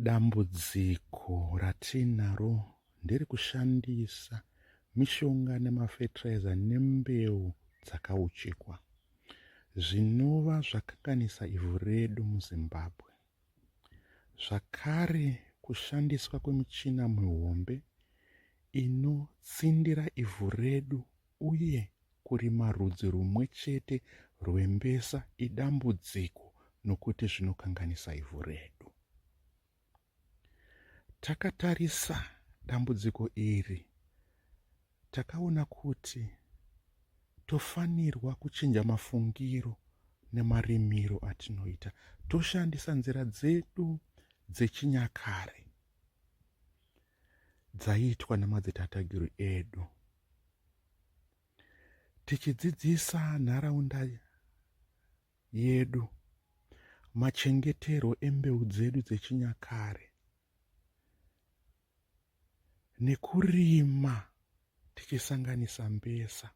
Dambudziko ratinaro ndiri kushandisa mishonga nemafetiraiza nembeu dzakauchikwa zvinova zvakanganisa ivhu redu muzimbabwe zvakare kushandiswa kwemichina mihombe inotsindira ivhu redu Uye kurima rudzi rumwe chete rwembesa idambudziko nokuti zvinokanganisa ivhu redu. Takatarisa dambudziko iri takaona kuti tofanirwa kuchinja mafungiro nemarimiro atinoita toshandisa nzira dzedu dzechinyakare dzaiitwa namadzitatagiri edu tichidzidzisa nharaunda yedu machengeterwo embeu dzedu dzechinyakare nekurima tichisanganisa mbesa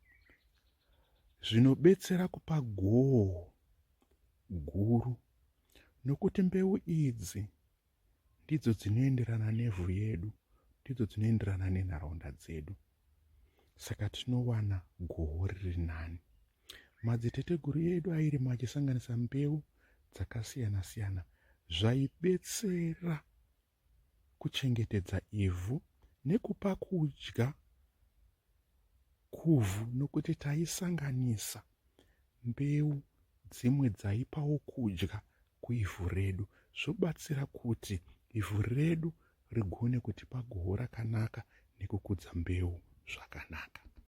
zvinobetsera kupa goho guru nokuti mbeu idzi ndidzo dzinoenderana nevhu yedu ndidzo dzinoenderana nenharaunda dzedu saka tinowana goho riri nani madziteteguru edu airima achisanganisa mbeu dzakasiyana siyana zvaibetsera kuchengetedza ivhu nekupa kudya kuvhu nokuti taisanganisa mbeu dzimwe dzaipawo kudya kuivhu redu zvobatsira kuti ivhu redu rigone kutipa goho rakanaka nekukudza mbeu zvakanaka.